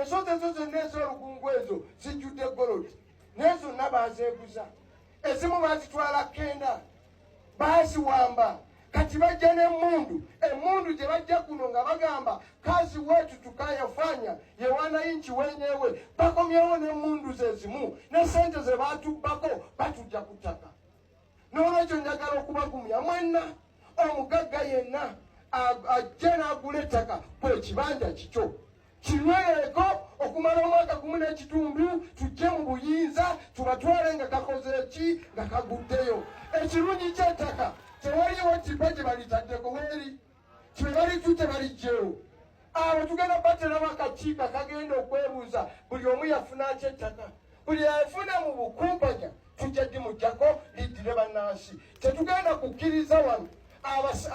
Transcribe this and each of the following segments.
ensonzi ezo zonna ez'olukungu ezo zijjudde golodi naye zonna baazeeguza ezimu baazitwala kenda baaziwamba kati bajja n'emmundu emmundu gye bajja kuno nga bagamba kazi wetu tukayafanya yewana inchi wenyewe bakomyewo n'emmundu ze zimu ne sente ze baatubbako batujja ku ttaka N'olwekyo njagala okubagumya mwenna, omugagga yenna ajja n'agula ettaka kwe kibanja kikyo kinyweeko okumala omwaka gumu n'ekitundu tujje mu buyinza tubatwale nga kakoze ki nga kaguddeyo ekirungi ky'ettaka tewaliwo kibba gye balitaddeko weeri kyebalijjute balijjewo abo tugenda bateramu akakiiko akagenda okwebuuza buli omu yafuna aky ettaka buli afuna mu bukumpanya tujja dimujjako liddire bannansi tetugenda kukkiriza wano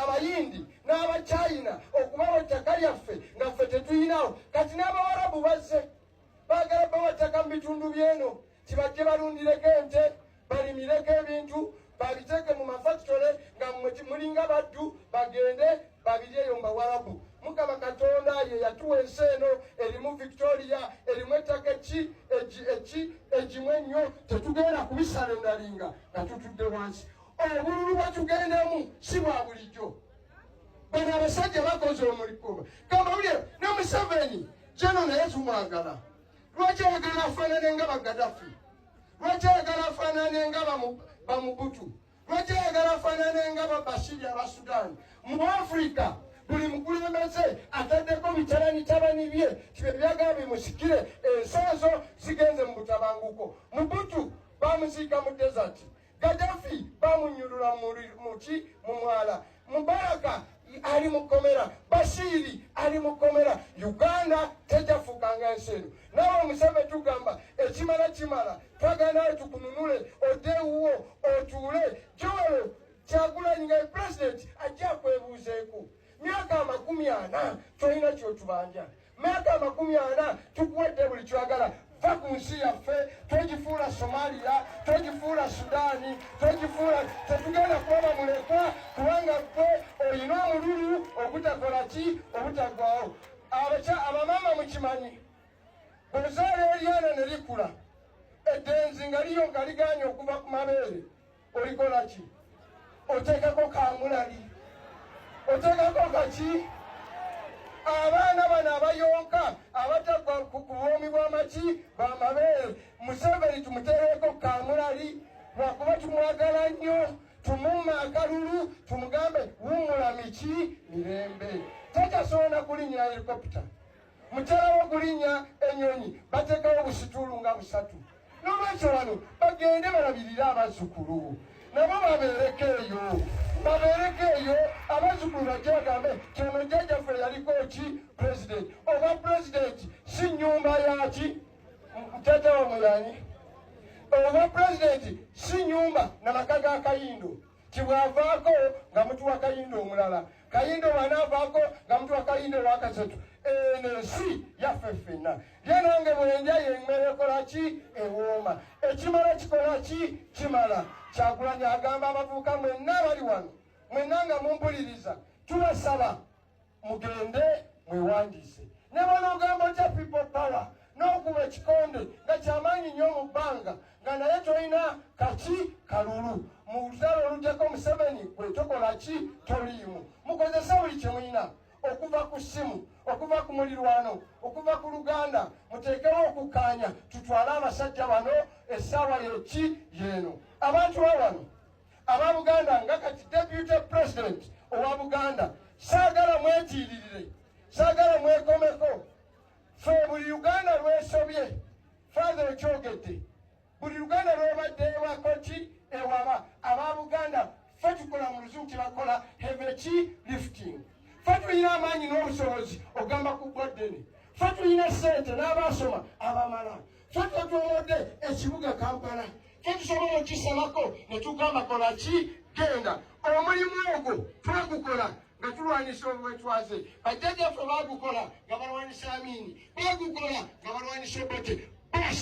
abayindi n'abachina okubawo ettaka lyaffe nga ffe tetuyinawo kati n'abawarabu bazze Baagala bawa ttaka mu bitundu by'eno kibajje balundireko ente balimireko ebintu babiteeke mu mafakitole nga mulinga baddu bagende babiryeyo mu bawarabu mukama katonda ye yatuwa ensi eno erimu victoria erimu ettaka eki eki egimu ennyo tetugenda kubisalendalinga nga tutudde wansi obululu bwetugendemu si bwa bulijjo bano abasajja bakoze omuligo kamawulire ne museveni jeno naye tumwagala lwaki ayagala afaanane nga bagadafi lwaki ayagala afaanane nga bamubutu lwaki ayagala afaanane nga babashiri aba sudan mu afrika buli mukulembeze ataddeko bitalani tabani bye tibe byagala bimusikire ensi ezo zigenze mu butabanguko mubutu bamuziika mu desert Gaddafi bamunyulula muki mu mwala. Mubaraka ali mu kkomera, Bashiri ali mu kkomera. Uganda tejafuuka nga ensi eno. Nawe omusebe tugamba ekimala kimala, twagala nawe tukununule odde ewuwo otuule. Joel Kyagulanyi nga ye pulezidenti ajja akwebuuzeeko myaka amakumi ana tolina kyotubanja. myaka amakumi ana tukuwadde buli kyagala va ku nsi yaffe togifuula somaliya togifuula sudaani togifuula tetugenda kulaba mulekwa kubanga gwe olina omululu ogutakola ki obutagwawo abaca abamaama mukimanyi bwezaala eryana ne likula eddenzi nga liyo nga ligaanye okuva ku mabeere olikola ki oteekako kamulali oteekako kaki abaana bano abayonka abatagwa ku buwoomi bw'amaki bamabeere museveni tumuteereko kamulali lwakuba tumwagala nnyo tumuuma akalulu tumugambe wumula miki mirembe takyasobola kulinya helikopita mukyala wokulinnya ennyonyi bateekawo obusituulu nga busatu n'olwekyo wano bagende balabirire abazzukulu nabo babeereko eyo babeereko eyo abazzukulu bajje bagambe kyono jjajjaffe yaliko ki pulezidenti oba pulezidenti si nnyumba yaki jjajja wamwe yani oba pulezidenti si nnyumba na maka ga kayindo kibwavaako nga mutuwa kayinda omulala kayinda obwanaavaako nga mutuwa kayinda owakasatu eno ensi yaffe ffenna lyenange bwenja yemmere ekola ki ewooma ekimala kikola ki kimala kyagulanyi agamba abavubuka mwenna abali wano mwenna nga mumpuliriza tubasaba mugende mwewandiise ne bwonogamba otya people power n'okuba ekikonde nga kyamaanyi nnyo mu bbanga nga naye tolina kaki kalulu mu lutalo oluddeko museveni gwe tokola ki toliimu mukozesa buli kye mulina okuva ku ssimu okuva ku mulirwano okuva ku luganda muteekewo okukkaanya tutwale abasajja bano essaawa yeki yeeno abantu awano aba buganda nga kati deputy president owa buganda saagala mwetiiririre saagala mwekomeko fe buli uganda lwesobye fathe okyogedde buli luganda lwebadde ewakoti ewaba aba buganda fe tukola mu luzungu kyebakola heveki lifting fe tulina amaanyi n'obusobozi okugamba ku bwaddene fe tulina sente n'abaasoma abamala Ffe twetwolodde ekibuga Kampala tetusobola okisalako ne tugamba kola ki genda omulimu ogwo twagukola nga tulwanyisa obwetwaze bajjajaffe bagukola nga balwanyisa amiini bagukola nga balwanyisa obote bas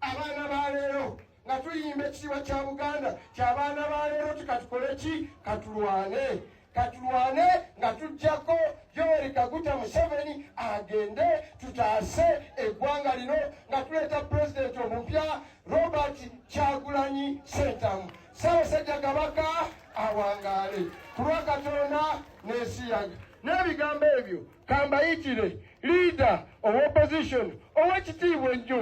abaana baleero nga tuyimba ekitiibwa kya buganda kyabaana baleero ti katukole ki katulwane katulwane nga tujjako yoweri kaguta museveni agende tutaase eggwanga lino nga tuleeta pulezidenti omupya robert kyagulanyi sentamu ssaabasajja kabaka awangaale ku lwa katonda n'esiyaga n'ebigambo ebyo kambayitire liida ow'opposition ow'ekitiibwa ennyo